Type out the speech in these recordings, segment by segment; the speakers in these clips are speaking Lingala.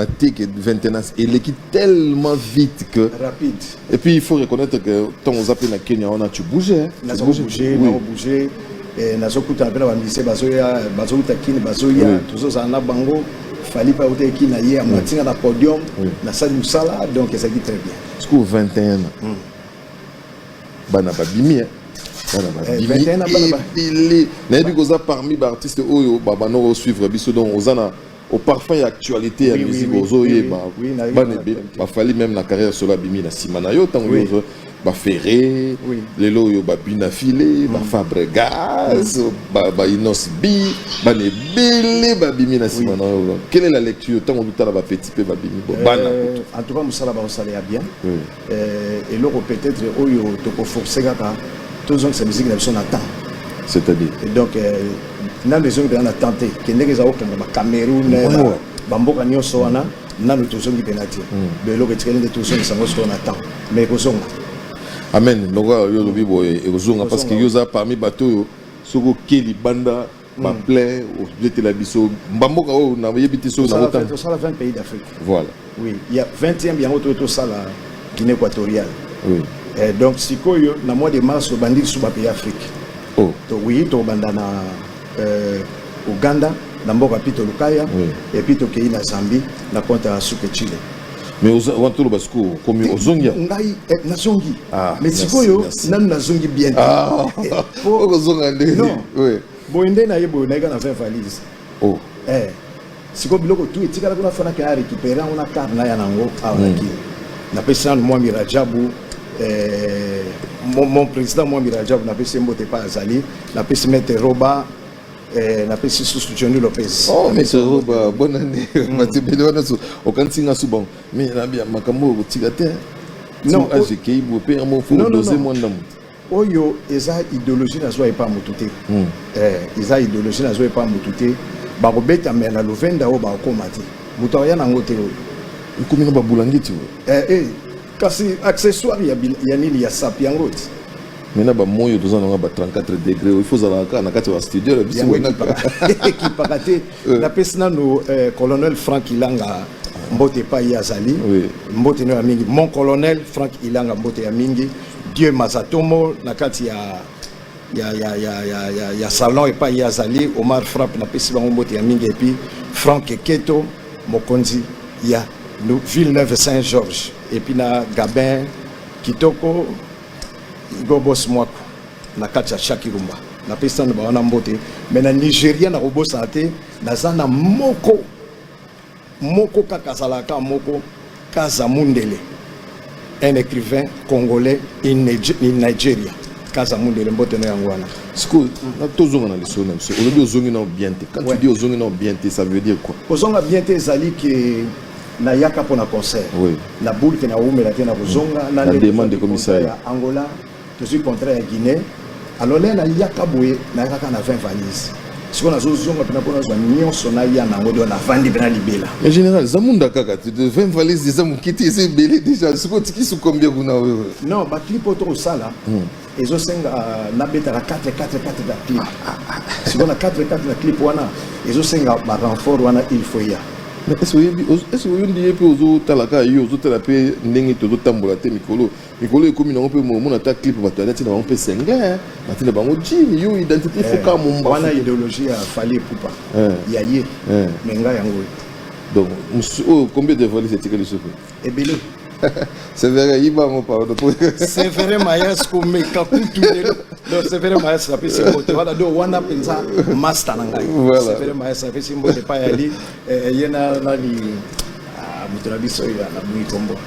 te que vingtenas eleki tellement vite que rapide et puis il faut reconnaître que tant aux appels na Kenya on a tu bouger hein. nazo bouger nazo bouger eh, nazo kuta pe na ba musiciens bazo ya bazo kuta kini bazo ya tozo za na bango fali pa uta kini na ye amatinga na podium na sali musala donc ça qui très bien ce coup 21 ans hmm. bana babimi hein nayebi koza parmi baartiste oyo babanoko suivre biso donc oza na au parfum ya actualité ya musique ozo yeba bana ebe ba fali même na carrière solo abimi na sima na yo tango yo ba ferré lelo yo ba bina filé ba mm. fabregas mm. ba ba inos b ba ne belé ba bimi na sima na yo quelle est la lecture tango du tala ba petit pe ba bimi bon bana euh, en tout cas musala ba osala ya bien Eh, eloko peut-être oyo toko forcer kaka tozongisa miziki na biso na temps c'est-à-dire et donc eh, nanu ezongi mpena na temps te ke ndenge eza kokende ba cameroun oh. bamboka nyonso wana nanu tozongi mpena te hmm. do eloko etikali nde tozongisa yango sikoyo na temps mais ekozonga amen lokola yo olobi boye ekozonga parce que yo oza parmi bato oyo soki oke libanda ba plein obetela biso mbamboka oyo nayebi te soki nakotanga tosala 20 pays d'afrique voilà oui ya 20e yango toye tosala guinée équatoriale oui. eh, donc sikoyo na mois de mars obandi lisusu bapays afrique oh. to, oui tokobanda na euh, uganda na mboka pito lukaya oui. epuis tokei na zambie na konta ya suke chile mais oza wana toloba sikoyo okomi ozongi ngai eh, nazongi ah, mais sikoyo nanu nazongi bien ah, okozonga nde boye nde naye boye nayika na 20 valise oh. eh, sikoyo biloko tu etikala kuna fanaki aya récupéré yango na kar naya nango awa na hmm. kini napesi nanu mwami rajabu eh, mon, mon président mwami rajabu napesi ye mbote epai azali napesi mete roba Eh, napesi susu johnny lopez oh, misoba bonne année mm. matebele wana so okanisi nga so bango mi nabia makambo oyo kotika te non age ekei boye mpe yango fo dose mwa ndambo oyo eza idéologie nazwa epa motu te mm. eh, eza idéologie nazwa epa motu te bakobeta me na lovenda oyo bakokoma te moto akoya nango te oyo ekomi na babulangiti oyo eh, eh. Kasi accessoire ya, ya nini ya sapi yango ti mais na bamoyi toza nanga ba 34 degré il faut ozalaka kaka na kati ya bastudio na biso ekipaka te euh. napesi nano euh, colonel frank ilanga mbote epai ye azali mbote no ya mingi mon colonel frank ilanga mbote ya mingi dieu mazatomo na kati ya ya, ya, ya, ya, ya, ya salon epai ye azali omar frappe napesi bango mbote ya mingi epuis frank eketo mokonzi ya ville neuve saint georges epuis na gabin kitoko gobos mwako na kati ya shaki rumba napesi nano bawana mbote me na nigeria nakobosana te naza na moko Moko kaka azalaka kaka moko Kaza Mundele un écrivain congolais in Nigeria Kaza Mundele mbote na yango wana sikoyo tozonga na lisolo na biso olobi ozongi nao bien te quand tu dis ozongi nao bien te ça veut dire quoi kozonga bien te ezali ke nayaka mpo na concert na bulke na wumela te na kozonga na demande ekomisaya angola tozwi contrat ya guinee alors lene ayaka boye nayaka kaka na 20 valise sikoyo nazozonga mpena mpo nazwa nyonso naya na yango do navandi mpena libela mais général eza munda kaka 20 valise eza moke te eza ebele déjà sikoyo tikisi combien kuna oyo non baclip oyo tokosala hmm. ezosenga euh, nabetaka 4 4 4 na clip ah, ah, ah. sikoyo na 4 4 na clip wana ezosenga barenfort wana il faut ya est-ce que oyebi oyebi ye mpe ozotalaka ye ozotala mpe ndenge tozotambola te mikolo mikolo ekomi nango mpe momona ata clip bato alati na bango mpe sengle bati na bango jini yo identité eh, foka momba wana idéologie ya fali epupa eh. ya ye eh. me ngai yango donc oyo combien de valise etikali soki ebele severe yiba yango pardon severe mayas komeka kutu lelo donc severe mayas apesi mbote wana donc wana mpenza master na ngai severe mayas apesi mbote epai yali ye na nani ah, moto na biso oyo alabuyi kombo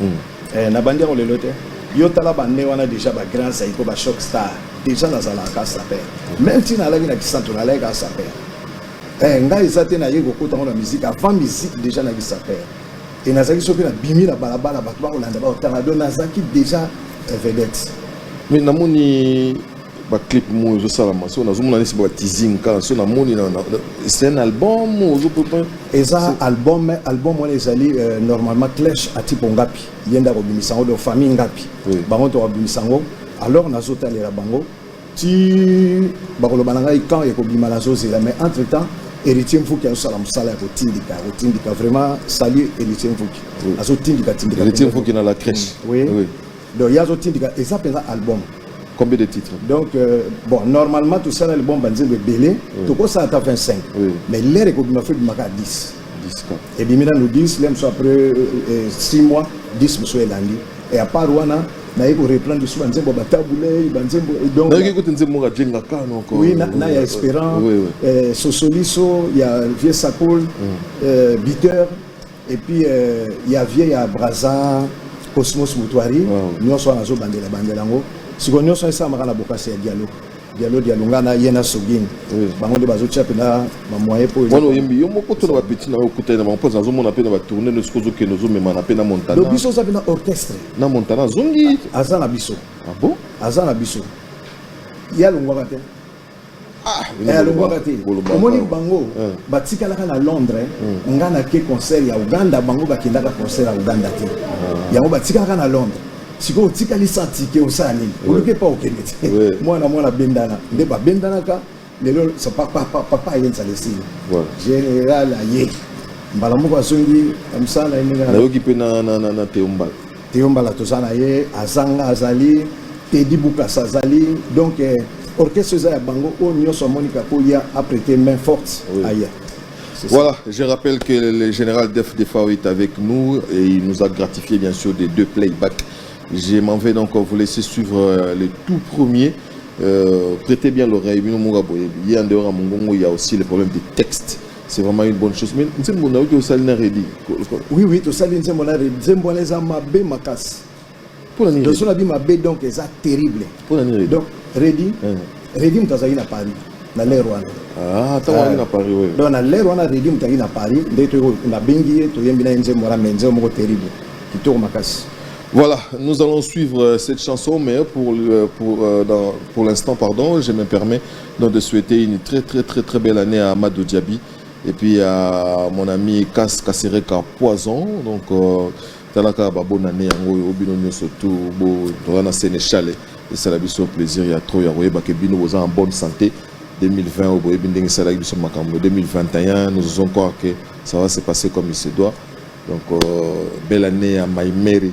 Hum eh, na bandi yango lelo te yo tala bande wana deja ba grand zaiko ba choc star deja nazalaka saper meme ti nalaki na kisantu nalayaka saper eh, ngai eza te naye kokota ngo na musique avant musique deja nayaki saper e nazalaki soki nabimi na balabala bato bakolanda baotanga do nazalaki deja eh, vedette mais namoni ba clip mo ezo sala maso na zomona nisi ba teasing kala so na moni na c'est un album ozo peut eza album album wana ezali euh, normalement clash à tipo ngapi yenda ko bimisa ngo de famille ngapi bango to bimisa ngo alors na zo talela bango ti ba ko loba na ngai quand e ko bima na zo zela mais entre temps héritier mfuki azosala mosala ya kotindika kotindika vraiment salut héritier mfuki azotindika tindika héritier mfuki na la crèche oui, oui. Donc ye azo tindika eza mpenza album. Combien de titres Donc, euh, bon, normalement, tout ça, l'album Banzembe est belé. Oui. Tout ça, à 25. Oui. Mais l'air est comme il m'a fait, il m'a 10. 10 quoi. Et bien, nous 10, l'aime soit après euh, 6 euh, mois, 10 monsieur est lundi. Et à part Wana, naye koreprendre lisusu banzembo batabulei banzembo nayoki kutu nzembo moko ajenga kaka noko oui na, na ya espérant oui, oui. Eh, sosoliso ya vieux sakol mm. eh, biteur Et puis euh, ya vieux ya Brazza Cosmos Mutuari oh. nyonso wana azo bandela bandela yango sikoyo nyonso esalamaka na bokasi ya dialogue dialo dialonga na ye na sogini bango nde bazotya mpena bamoyen mpo wana oyembi yo moko to na bapeti na yo okutani na bango mpo nazomona mpe na batourne no sikoyo ozokende ozomemana mpe na montana donc biso oza mpe na orchestre na montana azongi aza na biso ah bon aza na biso ye alongwaka te Ah, eh, alobwaka te omoni bango eh. batikalaka na londres eh. hmm. nga nake concert ya uganda bango bakendaka concert ya uganda te ah. yango batikalaka na londres sikoyo otikali santike osala nini oluki epa okende te mwana mwana abendana nde babendanaka lelo papa ayenza lesili général aye mbala moko azongi mosala na ye ndenge nayoki mpe na teombala Theo Mbala toza na ye, Azanga azali, Teddy Bukasa azali, donc eh, orchestre eza ya bango oyo oh, nyonso amoni kakoya aprete main forte oui. aya Voilà, je rappelle que le général Def Defao est avec nous et il nous a gratifié bien sûr des deux playbacks. Je m'en vais donc vous laisser suivre euh, le tout premier. Euh, prêtez bien l'oreille, il y a aussi le problème des textes. C'est vraiment une bonne chose. Mais nzembo na oki osali na Reddy. Oui oui, to sali nzembo na Reddy. Nzembo wana eza mabe makasi. Pona nini? Doso na bi mabe donc eza terrible. Pona nini Reddy? Donc Reddy, hein. Reddy mtazali na Paris na l'ère wana. Ah, tango ali na Paris oui. Donc na l'ère wana Reddy mtazali na Paris, nde to na bengi ye to yembi na nzembo wana mais nzembo moko terrible. Kitoko makasi. Voilà, nous allons suivre euh, cette chanson, mais pour, euh, pour, euh, pour l'instant, pardon, je me permets Donc de souhaiter une très très très très belle année à Amadou Diaby et puis à mon ami Kas Kasereka Poison. Donc euh, talaka ba bonne année yango yo bino nyoso tout bo toza na Sénéchal et ça la biso plaisir ya trop ya koyeba que bino boza en bonne santé 2020 au boyebi ndenge esalaki biso makambo 2021 nous osons croire que ça va se passer comme il se doit donc euh, belle année à Maïmeri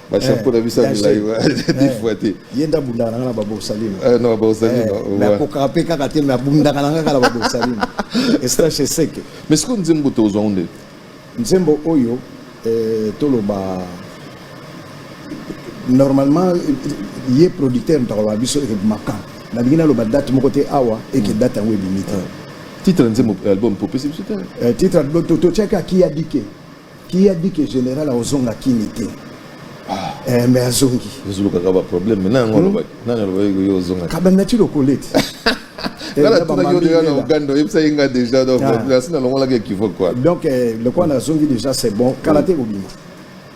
bashako eh, na biso ya milai defwa eh, te ye nde abundaka nanga na baborsalino eh, na baborsalino me akokaka mpe kaka te me abundaka nanga kaka na baborsalino estache seke mais sikoyo nzembo tozwango nde nzembo oyo toloba normalement ye producteur moto akoloba biso eke makan nalingi naloba date moko te awa eke date yango ebimi te titre ya nzembo album popesi biso te titre totyaki akiyadike Qui a dit que général akozonga kini te ah. eh, mais azongi ezolukaka ba problème mais nango hmm? alobaki nani alobaki yo ozonga kabanda ti lokoleti eh, ah. donc eh, le coin azongi déjà c'est bon kala te kobima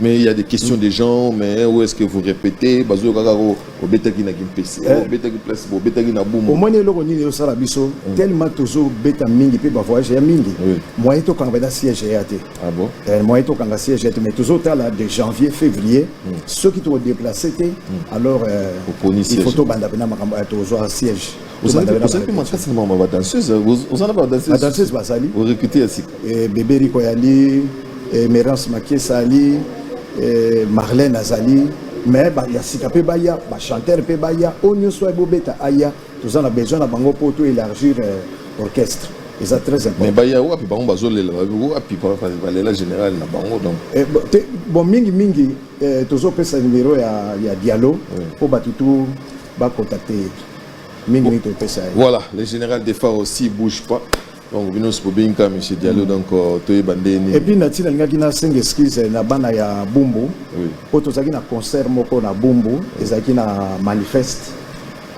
mais il y a des questions des gens mais où est-ce que vous répétez bazoyokaka obetaki na kimpese eh. obetaki place obetaki na bumu omoni eloko nini ezosala biso mm. tellement tozobeta mingi mpe bavoyage ya mingi moyen tokanga mpena siège eya te ah eh, moyen tokanga siège ya te mais tozotala de janvier février mm. soki tokodeplace te mm. alors euh, il faut tobanda mpena makambo eh, tozwa siège ozalaki makasi na mama badanseuse oza na badanseuse bazali orecrute ya sika eh, bebe riko yali eh, merance makiesa ali eh, marlene azali mais ya sika mpe baya bachanteur mpe baya oyo nyonso aye bobeta aya toza na besoin na bango mpo to élargir orchestre eza très important mais baya wapi bango bazolela wapi balela général na bango donc eh, bon mingi mingi tozopesa numero ya dialo mpo bato tu bacontacte ye mingi mingi topesa ye voilà le général de phare aussi bouge pas donc bino nyonso bobengika monsieur diallo donc euh, toyeba nde nini epuis na ntina alingaki nasenga excuse na bana ya bumbu mpo tozalaki na concert moko na bumbu ezalaki na manifeste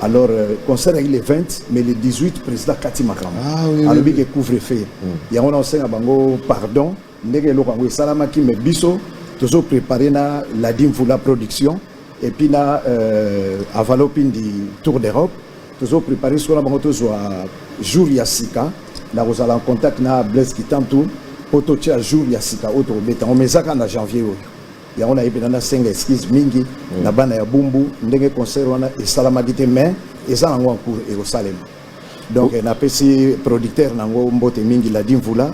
alors euh, concert ayaki le 20 mais le 18 président kati makambo ah alobi ke couvre feu hmm. yango na osenga bango pardon mm. ndenge eloko yango esalamaki me biso tozo prepare na ladi mvula production epuis na euh, avalopindi tour d'europe tozo prepare sikoyo na bango tozwa jour ya sika na kozala en contact na blaise kitantu mpo totya jour ya sika oyo tokobeta yango mais na janvier oyo yango nayebi na nasenga excuse mingi mm. na bana ya bumbu ndenge concert wana esalamaki te mais eza nango en cours ekosalema donc oh. napesi producteur nango mbote mingi ladi mvula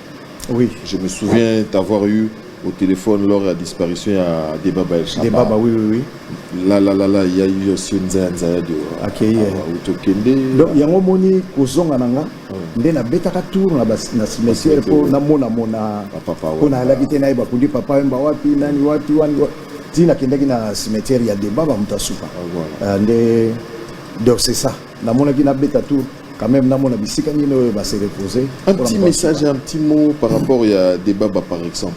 Oui. Je me souviens t'avoir eu au téléphone lors de la disparition à Debaba El Shaba. Debaba, oui, oui, oui. Là, là, là, là, il y a eu aussi une zaya zaya de accueillir. Utokende. Donc, il y a un moment où zonga nanga, nde na betaka tour na na cimetière po na mona mona papa po na la bité na ba kundi papa mba wapi nani wapi wani ti na kendaki na cimetière ya Debaba mutasuka. Ah, euh, nde donc c'est ça. Na mona ki na beta tour quand même namona bisika nini oyo base repose un petit message un petit mot par rapport ya debaba par exemple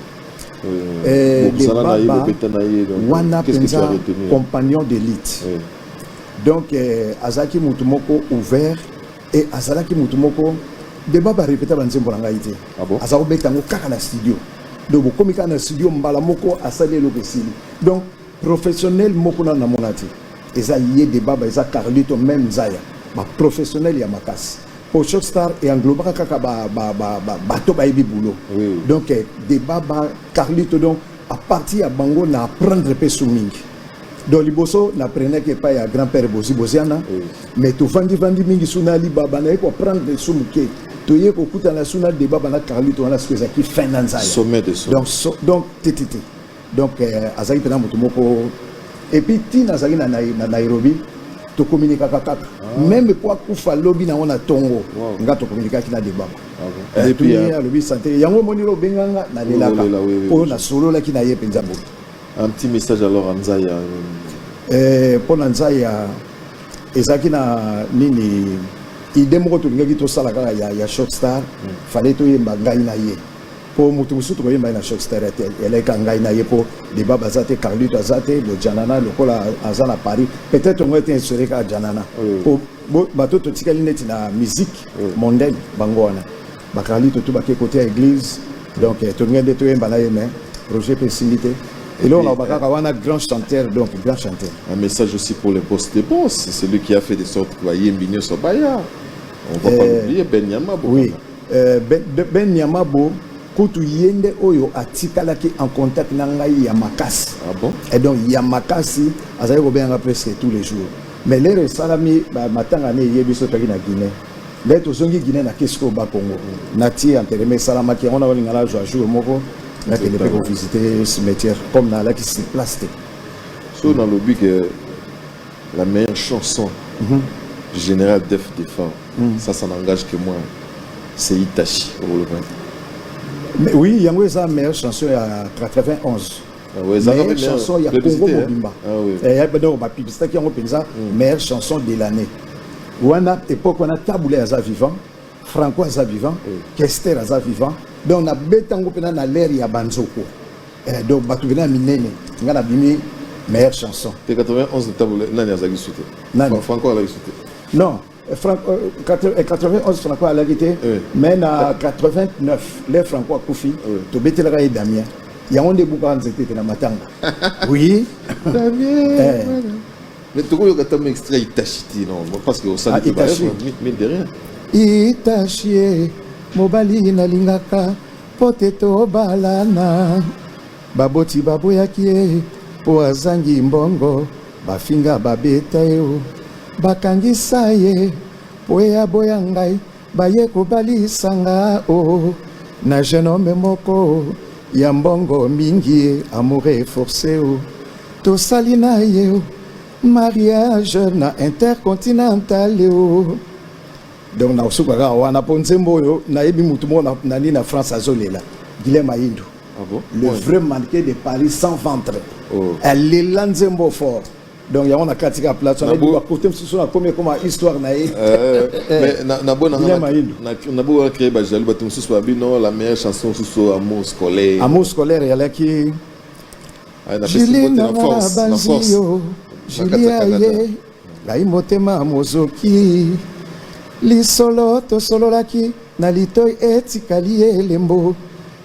euh, eh, debaba wana mpenza compagnon d'élite oui. donc eh, azalaki motu moko ouvert et azalaki motu moko debaba arepeta banzembo na ngai te ah bon? aza kobeta yango kaka na studio donc bokomi kaka na studio mbala moko asali eloko esili donc Professionnel moko nanu namona te eza ye debaba eza carlito meme nzaya ba professionnel ya makasi po choc star e englobaka kaka ba ba ba ba bato bayebi boulot Oui. donc eh, debaba carlito donc à partir ya bango na apprendre pe su mingi donc liboso na prenaki epai ya grand père bozi boziana Oui. mais tovandi vandi mingi su na alibaba naye ko apprendre su moke toye kokutana su na debaba na carlito wana soki ezalaki fin na nzaya Sommet de sommet. donc so, donc tetete donc euh, azali mpena moto moko epuis ntina azali na, na, na nairobi tokominikaka kaka ah. meme mpo akufa lobi nango na ntongo wow. nga tokominikaki na debako ah eh, epuis euh, alobi sante yango omoni lo obenganga nalelaka oyo nasololaki na ye mpenza boye un petit message alors à nzaya eh, mpo na nzaya ezalaki na nini ide moko tolingaki tosala kaka ya, ya short star mm. fale toyemba ngai na ye po mutu mosusu tokoyemba ye na choc stade te eleka ngai na ye po debat baza te carlito aza te bo janana lokola aza na paris peut-être yango ete insure kaka janana po bato totikali neti na musique mondaine bango wana ba carlito to bake kote ya église donc eh, tolingai nde toyemba na ye mais projet mpe esili te eloko na bakaka wana grand chanteur donc grand chanteur un message aussi pour le boss des boss c'est celui qui a fait de sorte que bayembi nyonso baya on va pas eh, l'oublier ben yama oui Euh, ben, ben, ben Niamabo, kutu ye nde oyo atikalaki en contact na ngai ya makasi ah bon? et donc ya makasi azali kobenganga presque tous les jours mais lere esalami matanga ne eyebi so toyaki na guinée nde tozongi guinée na kesi koyo bakongo natie entereme esalamaki yango nakolinga nazwa jour moko nakende mpe kovisite cimetière comme nalaki sur place te so nalobi ke La meilleure chanson du général Def Defend, ça, ça n'engage que moi, c'est Itachi Obolobani. Mais oui, yango eza meilleure chanson ya 91. Ah ouais, eza meilleure meilleure chanson ya Congo publicité, hein? mobimba. Ah oui. Eh, ya donc ba publicité yango penza meilleure chanson de l'année. Wana époque wana Tabula aza vivant, Franco aza vivant, Kester aza vivant. Donc na betango pena na l'air ya banzoko. Eh, donc batu bena minene. Nga na bimi meilleure chanson. Te 91 tabule nani azaki sute? Nani? Franco azaki sute. Non, eh, Franco 91 eh, eh, Franco alaki te, mais na 89 le Franco akufi, tobetelaka ye Damien. Yango nde ebukaka nzete te na matanga. Oui. Damien. Mais toko yoka ta extrait itachi ti non parce que osali ah, ba mine de rien. Itachi eh, mobali nalingaka mpo te tobalana baboti baboyaki ye mpo azangi mbongo bafinga babeta ye bakangisa ye mpo ye aboya ngai Baye kobalisa nga o oh, na jeune homme moko ya mbongo mingi amoure force o oh. tosali na ye o oh, mariage na intercontinental o donc nakosuka kaka wana mpo nzembo oyo nayebi motu moko na nini na france azolela guilem ayindo ah bon? le oui. vrai manqué de paris sans ventre oh. alela nzembo fort donc yango nakati kaka place wana ebiba kote mosusu nakomi ekoma histoire na ye naboka créer bajaloux bato mosusu babi non la meilleure chanson mosusu amour scolaire amour scolaire eyalaki julie nanga nabanzi yo julie aye ngai motema mozoki lisolo tosololaki na litoi etikali elembo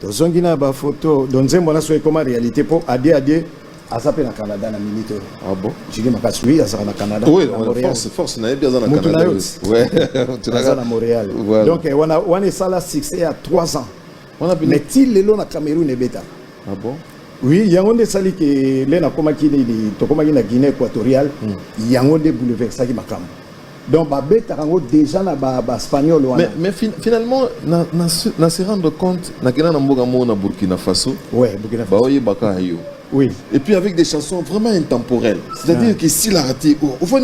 Tozongi na ba photo do nzembo na so ekoma realite po adie adie aza pe na Canada na minute oyo. Ah bon? Jigi makasi oui azaka na Canada. Oui, na Montréal. force force na yebi aza na Mutu na Canada. yo. oui. Ouais. Mutu na Aza nga. na Montréal. Voilà. Donc eh, wana wana esala succès ya 3 ans. Wana bino- Mais ti lelo na Cameroun ebeta. Ah bon? Oui, yango nde esali ke le nakomaki nini tokomaki na Guinée équatoriale yango nde bouleversaki makambo. Donc babetaka yango déjà na ba, ba spagnol wana. Mais, mais fin, finalement na, na, na se rendre compte nakenda na mboka moko na Burkina Faso. Ouais, Burkina Faso. Baoyebaka yo. Oui. Et puis avec des chansons vraiment intemporelles. C'est-à-dire ah. que si la raté, oh, au fond,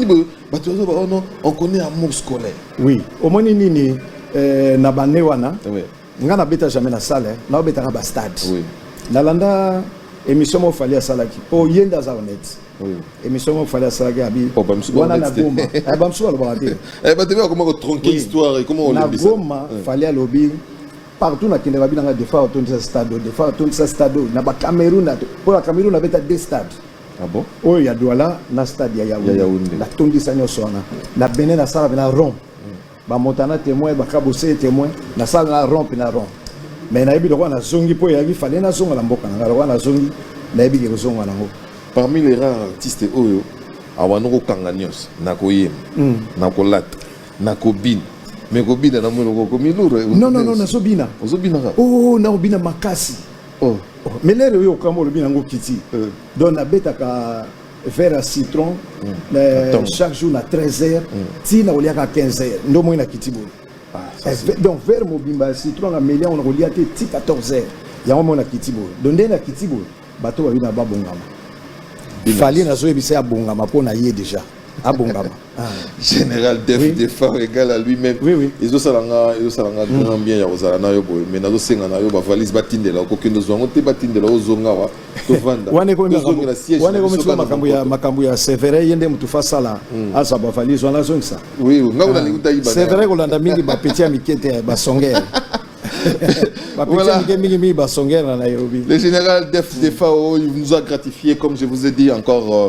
bah, tu vois, oh non, on connaît amour scolaire. Oui. Au moins, nini, euh, na bande wana. Oui. Nga na beta jamais na salle, hein. na betaka ba stade. Oui. Na landa émission mo fallait asalaki. Po yenda za honnête. Oui. Émission mo fallait asalaki abi. Oh, bamsu ba wana na Goma. Eh bamsu ba loba te. Eh ba tebe comment ko tronquer histoire et comment on le dit. Na Goma fallait lobi partout na kende ba binanga des fois autour de stade, des fois autour de stade na ba Cameroun. Po la Cameroun na beta deux stades. Ah bon? Oyo ya Douala na stade ya Yaoundé. Ya Yaoundé. Na tondisa nyoso wana. Na Benin na sala na Rome. Ba Montana temoin, ba Kabose temoin, na sala na rond na rond. Mais nayebi lokola nazongi mpo eyaki fallait nazonga na mboka na ngai lokola nazongi nayebi ke kozonga nango. Parmi les rares artistes oyo awanda kokanga nyonso na koyemba mm. na kolata na kobina me kobina na monoko okomi lure non non non nazobina ozobina kaka oh, oh nakobina makasi oh. oh. mais lere oyo okambo olobi nango kiti euh. donc nabetaka verre à citron mm. euh, chaque jour na 13 heures mm. tina oliaka 15 heures ndo moi na kiti boye ah, eh, donc verre mobimba ya citron na melia ona kolia te ti 14 heures yango moi na kiti boye donc nde na kiti boye bato babi na babongama fali nazoyebisa ya bongama mpo na ye déjà abongama Ah. général def oui. defar égal à lui-même oui, oui. ezosala nga ezosala nga mm. grand bien ya kozala na yo boye mais nazosenga na yo bavalise batindela okokende ozwa yango te batindela ozonga wa tovanda wana ekomisoka makambo ya makambo ya severe ye nde motu fa asala mm. azwa bavalise wana azongisa oui nga kuna ah. lingi utayiba severe kolanda mingi bapeti ya mike te basongere Le général Def Defao, il nous a gratifié, comme je vous ai dit encore. Euh,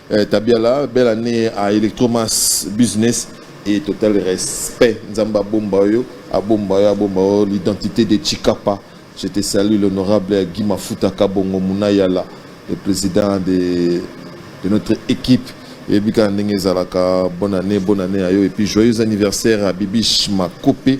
Eh, tabiala belle année à electromas business et total respect nzambe abomba yo abomba yo abomba yo l'identité de chikapa je te salue l'honorable guy mafuta kabongo munayala le président de, de notre équipe eyebi kaka ndenge ezalaka bonne année bonne année ya yo et puis joyeux anniversaire à bibiche makope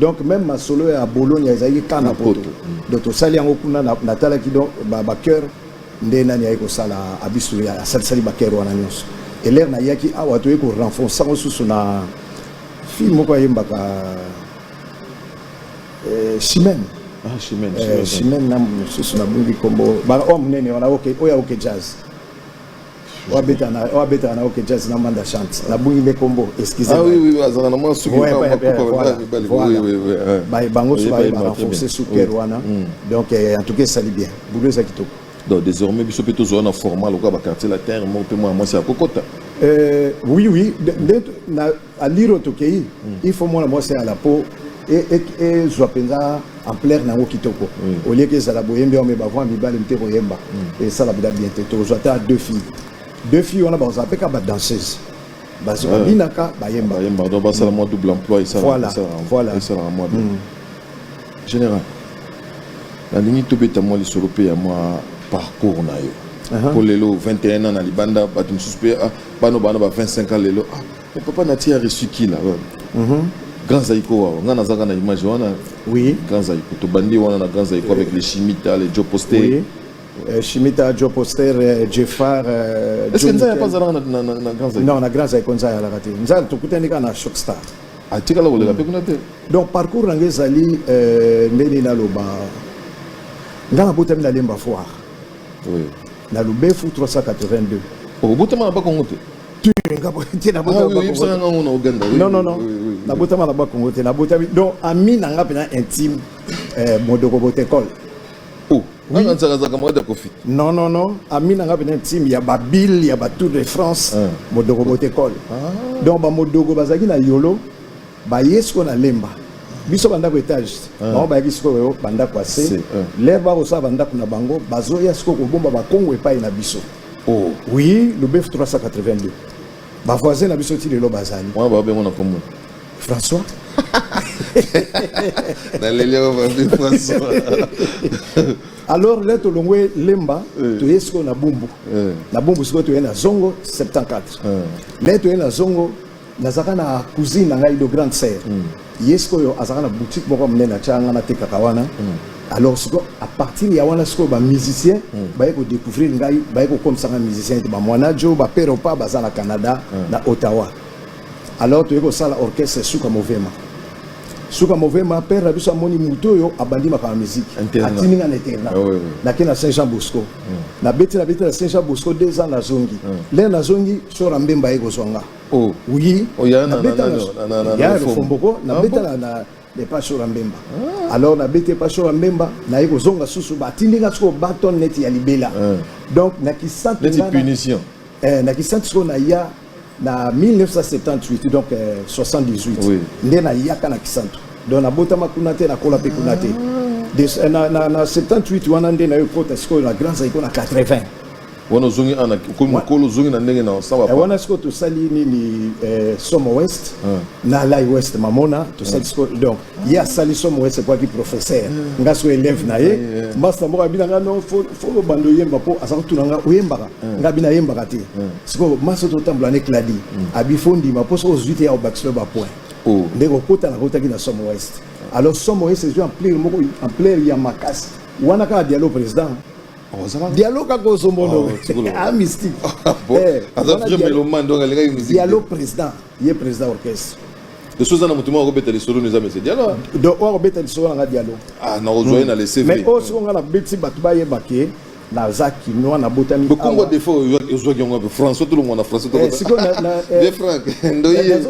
donc meme masolo ya bologna ezalaki kaka na poto donc tosali yango kuna natalaki donc bacoeur nde nani ayaki kosala abisu asalisali bacoeur wana nyonso elere nayaki awa toyei korenforce yango susu na fille moko ayembaka eh, chimene chimene eh, na mosusu nabungi nkombo baoyo oh, monene wana oyo ya oke jazz oyo abetaka na oyo abetaka na ok jazz na manda chante nabungi nde kombo excuse Ah oui, oui, azala na mwa suki Ouais, mwa- ouais, mwa kupa, ouais, voilà, mibali, mibali. voilà. Oui, oui, oui, hein. Ba- bango Oyebi so baye bayemba très barenforce bien. super Oui. wana Mm. donc eh, en tout cas esali bien boulot eza kitoko donc désormais biso mpe tozwa na format lokola baquartier latin moko mpe mwana mwasi ya kokota Euh, oui, oui. De- de- na- Aliro tokei il faut mwana mwasi ya lapo ezwa e, e, mpenza ampleur na yango kitoko mm. olieke ezala boyembi yango me bavoi mibali mpe koyemba mm. esala bida bien te tozwa ata deux filles deux filles wana bakozala mpe kaka badanseuse basi babinaka bayemba donc basala mwa double emploi esalaka mwa bien mm. général nalingi tobeta mwa lisolo mpe ya mwa parcours na yo mpo lelo 21 ans na libanda bato mosusu mpe ah, bano bana ba 25 ans lelo ah mais papa na tia reçu qui là mhm grand zaiko wawa nga nazaka na image wana oui grand zaiko to bandi wana na grand zaiko avec les chimita les joe posté oui. Euh, Shimita, Joe Poster, euh, Jeffar. Euh, Est-ce que Nzaya pas zalaka na, na, na, na Grand Zaïko Non, na Grand Zaïko Nzaya alaka te. Nzaya tokutani kaka na Shock Star. atikala ah, koleka mpe kuna te donc parcours na ngai ezali euh, ndenge naloba ngai nabotami na lemba foire Oui. Na Lubefu 382. Obotama na Bakongo te? Tu nga bo te na botama ah, oui, Bakongo. Nga ngo na Ouganda. Oui, non non non. Oui, oui, na botama na Bakongo te na botami donc ami na nga pena intime euh Modoko Botekol. Oh. Oui. Nga nzaka zaka mwa da Kofi. Non non non, ami na nga pena intime ya Babil ya Batour de France, ah. Modoko Botekol. Ah. Donc ba Modoko bazaki na Yolo. baye sikoyo na lemba biso bandako etage ah. bango bayaki sikoyo bandako ase ah. lere bakosala bandako na bango bazoya sikoyo kobomba bakongo epai na biso oh. oui lubefu 382 bavoisin na biso ti lelo bazali babengo na kombo françois naleli françois alors le tolongwe lemba eh. toye sikoyo na bumbu eh. na bumbu sikoyo toye na zongo 74 eh. le toye na zongo nazalaka na cousine na ngai de grande sœur mm. ye sikoyo azalaka na boutique moko monene atyaka ngai natekaka wana mm. alors sikoyo à partir ya wana sikoyo bamusicien mm. baye kodécouvrir ngai baye kokomisa ngai musicien ete bamwana jo bapere opa baza na canada mm. na ottawa alors toye kosala orchestre suka movema suka movema père na biso amoni moto oyo abandi makambo ya miziki atindi ngai na internat ah nake na saint jean bosco mm. nabeti nabeti na saint jean bosco deux ans nazongi mm. lere nazongi sora mbemba aye kozwa nga oh. oui oh, ya lofomboko nabetaka na epa sora mbemba ah. alors nabeti epa sora mbemba naye kozonga susu batindi nga sikoyo baton neti ya libela ah. donc na kisatu eh, na kisatu sikoyo naya na 1978 donc 78 eh, nde nayaka na kisantu donc nabotama kuna te nakola mpe kuna te ah. eh, na 78 wana nde nayo kota sikoyo na grand zaiko na 80 wana ozongi ana okomi mokolo ozongi na ndenge na osala eh, wana sikoyo tosali nini eh, somo west ah. na lai west mamona tosali ah. sikoyo donc ye asali somo west ekwaki professeur ah. nga sikoyo elève na ye masta moko abina nga no fo obanda oyemba mpo aza kotuna nga oyembaka nga abina ayembaka te sikoyo masta totambola ne cladi hmm. abi fo ndima mpo soki ozwi te ya obakiselo bapoint oh. nde kokota nakotaki na somo west alors somo west ezwi ampleur moko ampleur ya makasi wana kaka dialo président Diallo kaka ozombono a mystique aza vrai mélomane donc alingaki musique Diallo président ye président orchestre lisusu eza na motu moko akobeta lisolo no eza mese dialo donc oyo akobeta lisolo nanga dialo ah nakozwa ye na leseve mais oyo soki nga nabeti bato bayeba ke naza kinois nabotami bokongo defo ozwaki yango ape françois tolongwa na français de eh, eh, eh, frank ndoye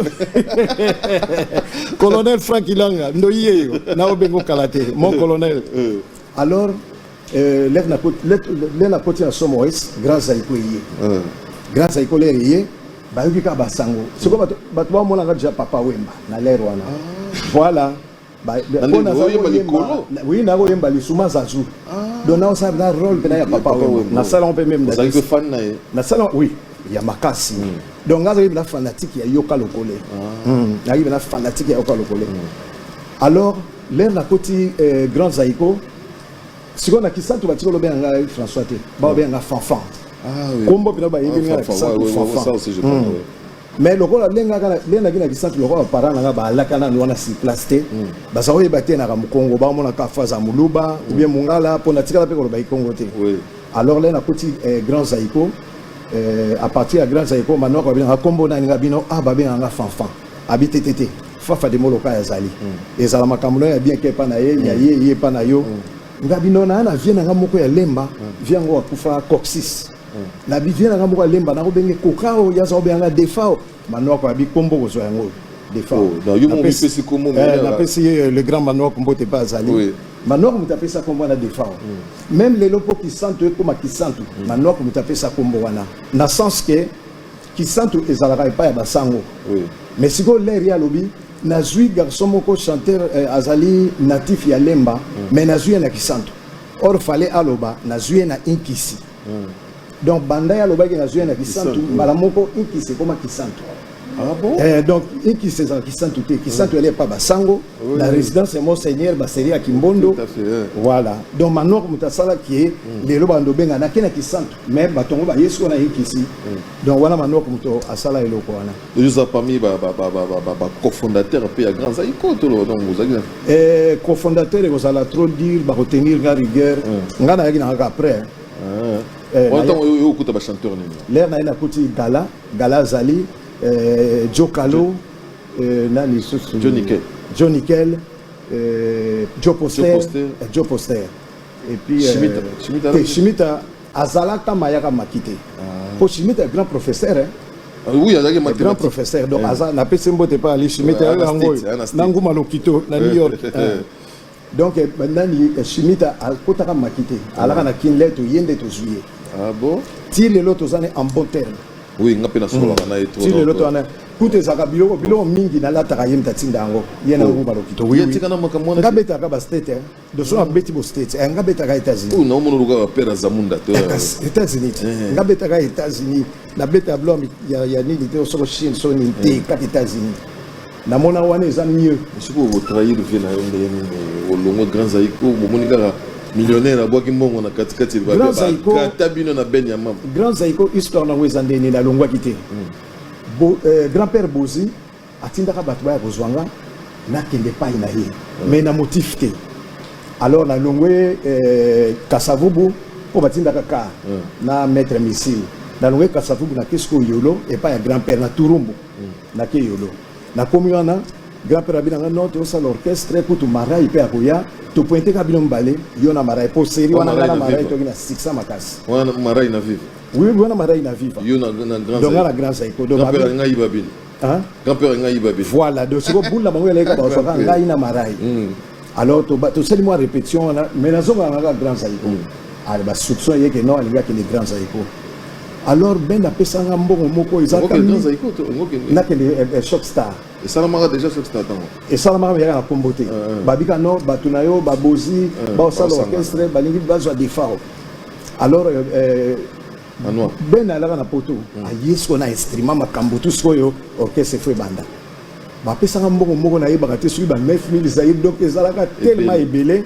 colonel frank ilanga ndoye yo naobengo kala te mon colonel alors Euh, lève na côte lève na côte na somo es grand zaiko ye euh. grand zaiko l'air ye ba yoki ka basango siko bato bato ba mona déjà papa wemba na l'air wana ah. voilà ba pona za ko yemba oui na ko yemba lisuma zazu ah. donc na ça na rôle pena ya papa wemba na salon pe même na ça que fan na ye na salon oui ya makasi hmm. donc ngaza yebela fanatique ya yoka lokole ah. hmm. na yebela fanatique ya yoka lokole hmm. alors l'air na côté euh, grand zaiko sikoyo na kisantu batika olobela nga françois te baobela nga fanfan ah kombo mpena bayebi nga na kisantu fanfan mais lokola lengaki na kisantu lokola parent nanga baalaka nanu wana sur place te hmm. baza koyeba te naka mokongo bamonaka fo aza moluba hmm. oubien mongala mpo natikala mpe koloba ikongo te alors le nakoti eh, grand zaiko eh, à partir ya grand zaiko manoko babinanga kombo nani nga bino a ah, babenganga fanfan abi tetete fafa de moloka ya zali mm. ezala makambo na yo ya bien ke epa na ye mm. ya ye ye epa na yo mm. nga bino na na vie na nga moko ya lemba mm. vie yango akufa coxis mm. na bi vie na nga moko ya lemba nako benge kokao ya za obenganga defao manoko ya bikombo kozwa yango defao oh, na yo mo pesi kombo eh, na pesi le grand manoko mbote pa azali oui. manoko moto apesa kombo wana defao mm. meme lelo mpo kisantu ekoma kisantu mm. manoko moto apesa kombo wana na sens ke Kisantu ezalaka epai ya basango. Oui. Mais sikoyo leri alobi nazwi garçon moko chanteur eh, azali natif ya Lemba mm. mais nazwi ye na Kisantu. Or fallait aloba nazwi ye na Inkisi. Mm. Donc banda ya alobaki nazwi ye na Kisantu mbala moko Inkisi ekoma Kisantu. Ah bon? Eh, donc Inkisi ezala Kisantu te. Kisantu mm. epa basango oui. na résidence ya Monseigneur Baseli ya Kimbondo. Tout à fait, eh. Voilà. Donc Manor Mutasala qui est mm. lelo bando benga na kena Kisantu. mais bato yango baye sikoyo na ekisi donc wana manoko moto asala eloko wana oza parmi bacofondateur mpe ya grand zaiko toloba donc ozalaki na eh, cofondateur ekozala trop dire bakotenir nga rigueur mm. nga nayaki nangaka après ah. eh, wana ntango oyo okuta bachanteur nini lere naye nakuti gala gala azali eh, jo kalo nani lisusu jo nickel jo nickel jo poster jo poster Et puis, euh, Shimita. Euh, Shimita, te, Shimita azalaka mayaka maki te ah. mpo ah. Shimita est grand professeur hein. Ah oui, azalaki mathématique. Grand professeur donc yeah. aza napesi mbote mpa ali Shimita yeah, yango oyo na nguma lokito na New York hein. donc eh, nani eh, Shimita akotaka maki te alaka na kin le toye nde tozwi ye ah bon ti lelo toza ne en bon terme oui nga mpe nasololaka mm. na ye ti lelo toza ne kutu ezalaka biloko biloko mingi nalataka ye mtatinda yango ye na oh. nguma lokito nga betaka bastate doso abeti bo states eh, nga betaka états-unis oyo naomona olukaka père azamunda to états-unis ti eh, eh. nga betaka états-unis na beta blo ya, ya nini te soko chine so nini te kaka états-unis namona wana eza mieux soki okotrahir vie na yo ndenge nini olongwe grand zaiko bomoni kaka millionnaire abwaki mbongo na katikati bakata bino na ben ya mama grand zaiko histoire nango eza ndenge nini alongwaki te hmm. grand père bozi atindaka bato baya kozwa nga nakende epai na ye me na motif te alors nalongwe eh, kasavubu mpo batindaka ka mm. na maître missile nalongwe kasavubu nake sikoyo yolo epai ya grand père na turumbu mm. nake yolo nakomi wana grand père abi na nga non tosala orchestre kutu marai mpe akoya topointe ka bino mibale yo na marai mpo seri wana nga na marai toki na sikisa makasi wana marai na vive oui wana marai na vive yo na grand zaiko donc nga na grand zaiko donc Hein? Grand père ngai babe. Voilà, donc siko boule na bango ya leka ba soka ngai na marai. Hmm. Alors to to seli moi répétition wana mais na zonga na grand zaiko. Hmm. Alors ba soupçon yeke non alinga ke le grand zaiko. Alors ben apesanga mbongo moko ezaka. Grand zaiko to ngoke. Na ke le eh, eh, shop star. esalamaka déjà soki statango esalamaka meyaka na kombo te babika no bato na yo babozi baosala orchestre balingi bazwa defao alors euh, euh, Manua. Ben alaka na poto mm. aye sikoyo na instrument makambo tu sikoyo orchestre fo ebanda bapesaka mbongo moko nayebaka te soki ba 9000 zaire donc ezalaka telema ebele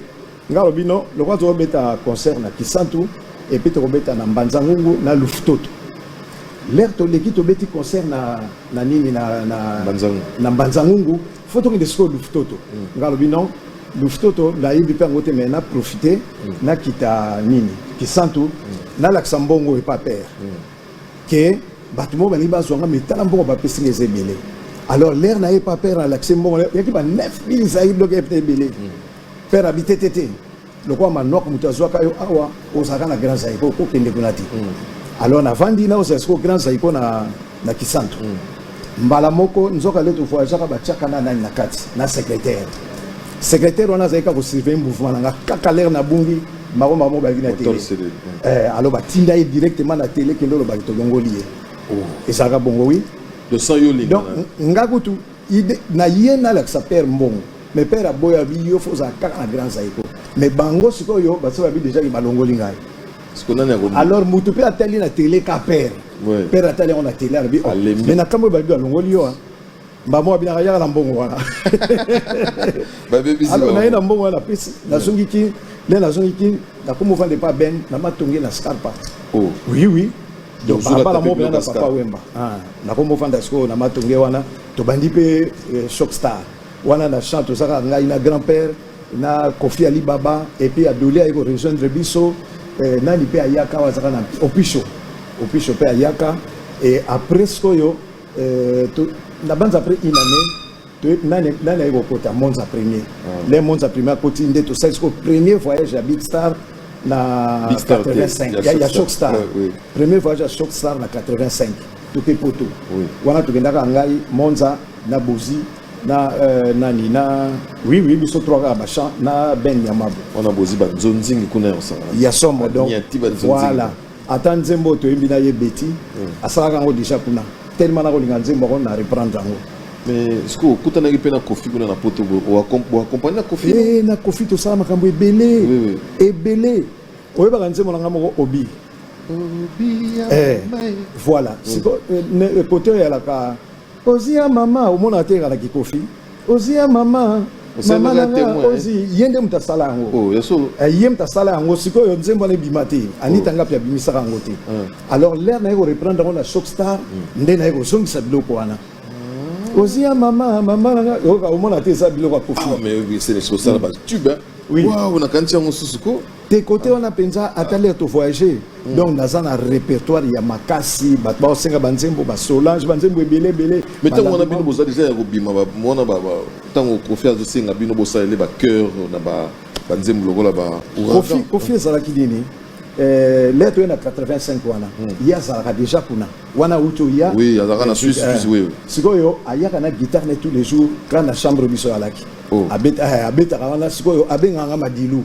nga alobi no lokola tokobeta concert na kisantu epuis tokobeta na mbanza ngungu na luftoto lere toleki tobeti concert na, na nini na, na, na mbanza ngungu fo tokende sikoyo lufutoto nga alobi non lufutoto nayebi mpe yango te mai na profite nakita nini kisantu nalakisa mbongo epa pere ke bato moko balingi bazwa nga mitala mbongo bapesi nga eza ebele alors lere na ye epa pere nalakisi mbongo yaki ba 9000 zaire doke epta ebele pere abite te te lokola manuaku moto azwaka yo awa ozalaka na grand zaiko okokende kuna te mm. alors navandi na ozala sikoyo grand zaiko na, na kisantu mm. mbala moko nzoka lete voyageaka batiaka na nani na kati na secrétaire secrétaire wana azalaki kaka kosurveille mouvement na nga kaka lere na bungi mbango mbango mo balaki na tele eh, alors batinda ye directement na tele kende olobaki tolongoli ye oh. ezalaka bongo wi donc nga kutu Ide na ye nalakisa père mbongo mais père aboya bi yo faut ozala kaka na grand zaiko mais bango sikoyo basi babi deja ke balongoli ngai siko nani akomi alors mutu mpe atali na tele ka père Ouais. père atali yango na tele alobi oh, Alembi. mais na kambo oyo babi alongoli yo ah. mbamo abinaka yaka na mbongo wana babebisi alors naye na bango mbongo wana napesi nazongi kin nde nazongi kin nakomi ovanda epa ben na matonge na scarpa oh oui oui donc balabala moko mpenza na papa wemba ah. nakomi ofanda sikoyo na matonge wana tobandi mpe eh, choc star wana na chant tozaka ngai na grand père na kofi alibaba epuis adoli aye korejoindre biso eh, nani mpe ayaka awa azaka na opisho opisho mpe ayaka e après sikoyo eh, nabanza après une année nani nani ayi kokota monza premier mm. le monza premier akoti nde tosali sikoyo premier voyage ya big star na 85 ya, ya shock star oui, oui. premier voyage ya shock star na 85 toke poto oui. wana tokendaka ngai monza na bozi na euh, nani na oui oui biso trois kaka bachan na ben yamabo wana bozi banzonzingi kuna ya somo donc voilà ata nzembo oyo toyembi na ye beti mm. asalaka yango deja kuna tellement nakolinga nzembo yango na reprendre yango mais sikoyo okutanaki mpe na kofi kuna na poto boakompagne na kofi eh, na kofi tosala makambo ebele ebele oyebaka nzembo na ngai moko obi eh, voilà mm. sikoyo kote eh, oyalaka ozi ya mama omonaka te ekalaki kofi ozi ya mama mama na nga ozi ye nde moto asala yango oh, eh, ye moto asala yango sikoyo nzembo wana ebima te anita oh. ngapi abimisaka yango te ah. alors lere naye koreprendre yango na shock star hmm. nde naye kozongisa biloko wana ah. ozi ya mama mama na nga omona te eza biloko ya kofi ah, mais c'est ça là bas tube hein oui waouh na kanti yango susu ko te kote wana mpenza ata lere to voyage mm. donc naza na répertoire ya makasi bato baosenga banzembo basolange banzembo ebele ebele me ntango wana bino boza deja ya kobima mwana ntango kofi azosenga bino bosalele bacoeur na banzembo lokola bakofi ezalaki nini eh, lere toye na 85 wana mm. ye azalaka deja kuna wana auti oya eh, sikoyo ayaka na guitare ne tous les jours kla na chambre biso alaki oh. eh, abetaka wana sikoyo abengaka madilu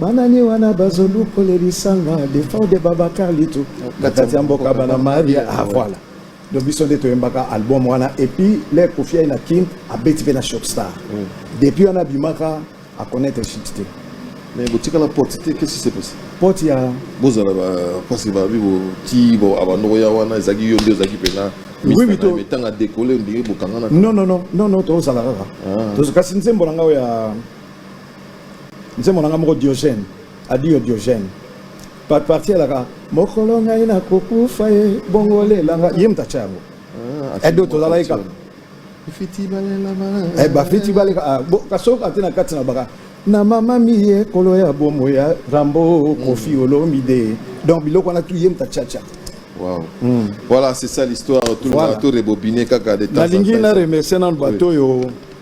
Banani wana bazo lukole lisanga defao de Babacar Litu kati ya mboka bana Maria ah voilà donc biso nde toyembaka album wana et puis le Koffi na Kin abeti pe na Shock Star mm. depuis wana bimaka a connaître shit te mais botika la porte te qu'est-ce qui s'est passé porte ya bozala ba parce ba bi bo ti bo abandoko ya wana ezaki yo nde ezaki pena oui oui to tanga décoller ndenge bokangana non non non non non to zala kaka ah. to kasi nzembo na ngao ya Nzembo na nga moko Diogène, Adio Diogène. Par partie alaka mokolo ngai na kokufa ye bongo lelanga ye moto atya yango. Ah, Edo tozalaki kaka. Fiti balela bala. Eh ba fiti balela ah, bo kasoko ati na kati na baka na mama miye kolo ya bomo ya Rambo mm. Kofi Olomide. Donc biloko na tu ye moto atya tya. Wow. Mm. Voilà, c'est ça l'histoire. Tout voilà. le monde a tout rebobiné kaka de temps. Na lingi na remercier na bato yo.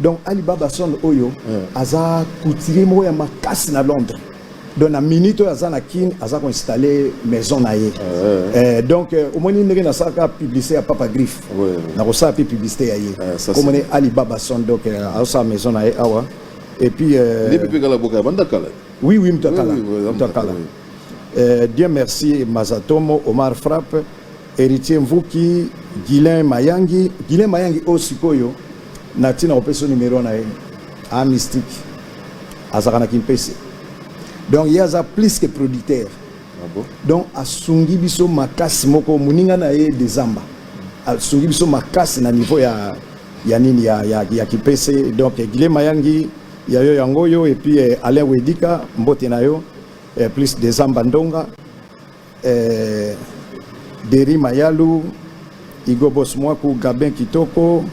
Donc Ali Baba Son oyo aza couturier moko ya makasi na Londres. Donc na minute oyo aza na Kin aza ko installer maison na ye. Eh, donc euh, omoni ndenge nasalaka publicité ya Papa Griffe. Ouais. Nakosala mpe publicité ya ye. Eh, ça, Komoni Ali Baba Son donc euh, azosala maison na ye awa. Et puis euh, Ndepe pe kala boka banda kala. oui oui Mutakala. Oui, oui, oui, Mutakala. oui. Euh, Dieu merci Mazatomo Omar Frappe Heritier Mvuki, Guilain Mayangi. Guilain Mayangi oyo sikoyo na ntina kopesa yo numero na ye a mystique azalaka na kimpese donc ye aza plus que producteur ah bon? donc asungi biso makasi moko moninga na ye dezamba asungi biso makasi na niveau ya ya nini ya, ya, ya kipese donc Guilain Mayangi ya yo yango oyo epuis eh, Alain Wedika mbote na yo eh, plus dezamba ndonga eh, Deri Mayalu, Igo Boss Mwaku, Gabin Kitoko,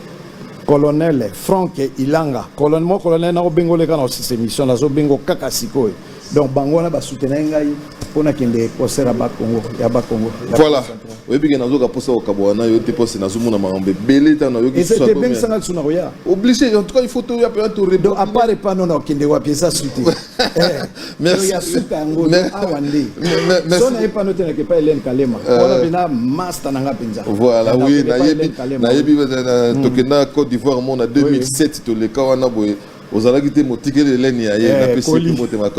colonel frank ilanga colonel mwa colonel nakobengole kaka na osisa émission nazobengo kaka sikoyo donc bango wana basoutenai ngai mpo nakende concert ya bakongo ya bakongo voilà oyebi ke nazoka mposa kokabola na yo te mposi nazomona makambo ebele ntango nayokiebingisanga lisu na koya oblige en tout cas il faut toya mpenza toredo apart epa nona okende wapi eza sute Merci. ya suka yango Mais- yo awa nde Mais- mais- merci. so naye mpa notelaka epai elene kalema wana mpena masta na nga mpenza Voilà, Nandako oui, epai nayebi Hélène Kalema. nayebi euh, tokenda Côte d'Ivoire mona 2007 toleka wana boye ozalaki te motikeli eleni ya ye Eh, napesi ye Koli. motema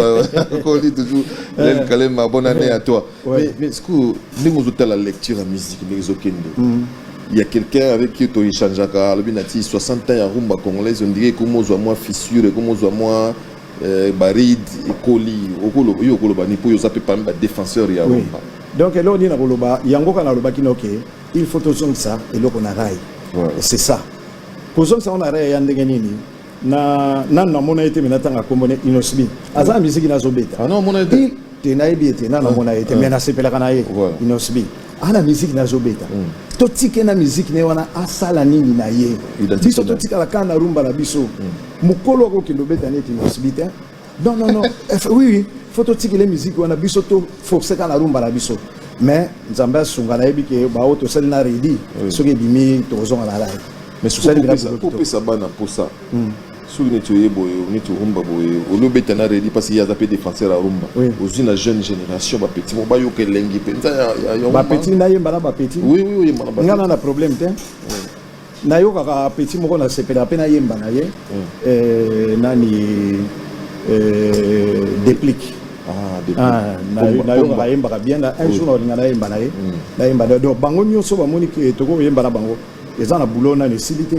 koli toujours eleni kalema bonne année à toi Ouais. Mais- mais sikoyo ndenge ozotala lecture ya musique ndenge ezokende Il y a quelqu'un avec qui tu échangeaka, alobi na ti 60 ans ya rumba congolaise, on dirait comme ozwa mwa fissure, comme ozwa mwa Eh, barid ekoli okoloba yo okoloba ni mpo oza mpe parmi ba défenseur ya romba donc eloko nini nakoloba yango kaka nalobaki noke il faut tozongisa eloko na rai c'est ça kozongisa yango na rai ya ndenge nini na nanu namona ye te me natanga nkombo ne inosbi aza na miziki nazobeta ah te nayebi ye te nanu amona ye te mais nasepelaka na ye inosbi ana miziki nazobeta mm. totike na miziki na ye wana asala nini na ye biso totikala kaka na rumba na biso mm. mokolo akokende obeta neti inosbi te non non non eh, oui oui fo totikele miziki wana biso toforce kaka na rumba na biso mais nzambe asunga nayebi ke baoyo tosali na redi soki ebimi tokozonga na lai mais sukopesa bana mposa hmm. soki neti oye boye neti rumba boye oli obeta na redi mpasi ye aza mpe défenseur ya rumba ozwi na jeune génération bapeti mo bayoka elengi mpenza bapeti nayemba na bapeti nga na na problème te nayokaka peti moko nasepelaka mpe nayemba na ye eh, nani eh, déplique Ah, nayokaka ayembaka bien na un jour nakolinga nayemba na ye nayemba donc bango nyonso bamoni tokoki koyemba na bango eza na boulot nani esili te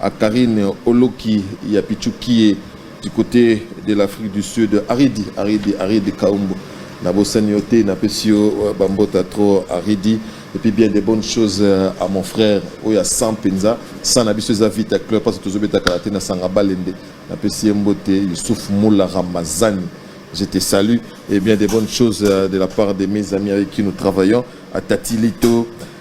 A Carine oloki ya pichu kie du cote de l'Afrique du Sud aridi aridi aridi kaumbu na bosani yo te na pesi yo euh, ba mbota trop aridi et puis bien des bonnes choses euh, à mon frère oyo ya 100 penza 100 na biso eza vita club parce que tozobeta kala te na sanga balende na pesi ye mbote Youssouf Moula Ramazani je te salue et bien des bonnes choses euh, de la part de mes amis avec qui nous travaillons à Tatilito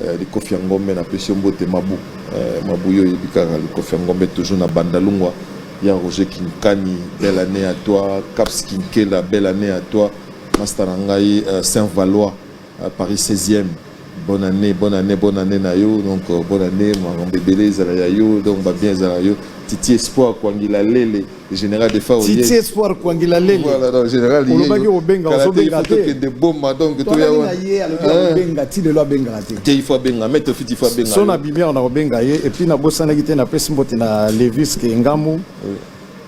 Eh, likofi ya ngombe na pesi yo mbote mabu eh, mabu yo oyebi kaka likofi ya ngombe toujours na bandalungwa ya roger kinkani belle année à toi caps kinkela belle année à toi masta na ngai eh, saint valois eh, paris 16e bonne année bonne année bonne année na yo donc euh, bonne année makambo ebele ezala ya yo donc babien ezala yo titi espoir kwangila lele Général de Fao. Titi Espoir Kwangila Lele. Voilà, donc général Yeye. Olobaki obenga, ozobenga te. Kende bomba donc to ya wana. Yeye alobi hein? obenga ti lelo abenga te. Te il faut abenga, mais to fiti faut abenga. Sona bimia on a obenga ye et puis na bosanaki te na pesi mbote na Levis ke ngamu. Oui.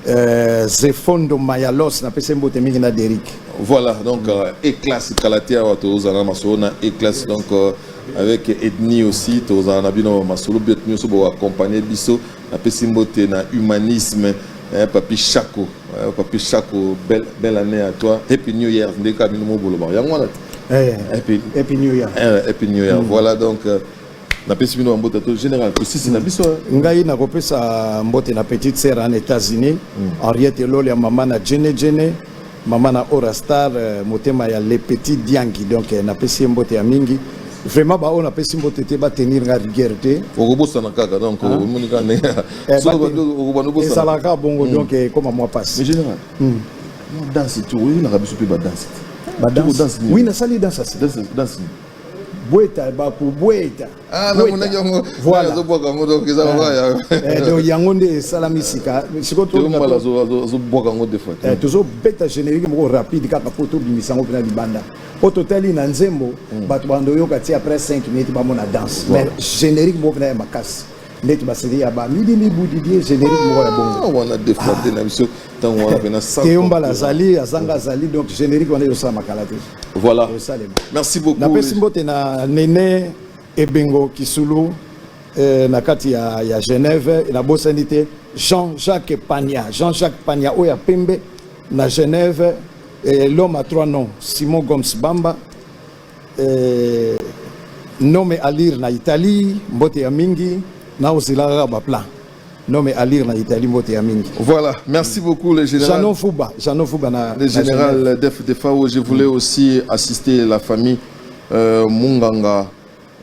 Euh, Zefondo Mayalos na pesi mbote mingi na Derrick. Voilà, donc euh, éclasse Kalatia wa to zana masona éclasse donc euh, avec Edni aussi to zana bino masolo biot nyoso bo accompagner biso Napesi mbote na humanisme eh, papi Chaco eh, papi Chaco belle, belle année à toi happy new year nde kaka bino mobolobaka yango wana eh, happy, happy new year eh, happy new year mm. voilà donc euh, napesi bino bambote to général tosisi na biso eh. ngai nakopesa mbote na petite sœur en états-unis mm. henriette elole ya mama na jene jene Maman na Ora Star motema ya le petit Diangi donc na pesi mbote ya mingi vraiment ba oyo na pesi mbote te ba tenir nga rigueur te okobosana kaka donc omoni kaka ndenge okobana obosana ezalaka bongo donc ekoma mwa pasi général mwa danse tu oyinaka biso mpe badanse te badanse oui nasali danse asi danse bweta bakobweta Ah, voilà. donc yango nde esalami sika sikoyotozobwaka yango defo te tozobeta générique moko rapide kaka mpo tobimisa yango mpena libanda mpo totali na nzembo bato bando oyoka ti après 5 minutes bamona danse mais générique moko mpena ya makasi ndeti baseli ya ba midi mibu didie générique moko ya bongo ah, wana defrate na biso ntango wana mpena teyombala azali azanga azali donc générique wana ezosala makala te voilà esalema merci beaucoup napesi mbote na nene ebengo kisulu eh, na kati ya, ya genève nabosani te jean jacques pania jean jacques pania oyo ya pembe na genève eh, l'homme à trois noms simon gomes bamba Eh, nome alir na Italie, mbote ya mingi, na osila kaka ba plan. Nome alir na Italie, mbote ya mingi. Voilà, merci beaucoup le général. Jeannot Fouba, Jeannot Fouba na le général Def Defao, je voulais mm. aussi assister la famille euh, Munganga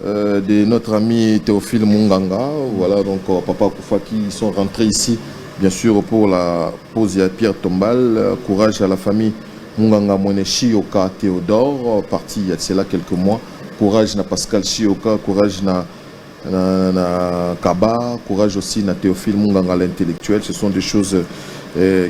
euh, de notre ami Théophile Munganga. Voilà, donc euh, papa Koufa qui sont rentrés ici, bien sûr, pour la pause à Pierre Tombal. Euh, courage à la famille. Munganga Mwene Shiyoka Theodore parti ya cela quelques mois courage na Pascal Shiyoka courage na na, na Kaba courage aussi na Theophile Munganga l'intellectuel ce sont des choses euh,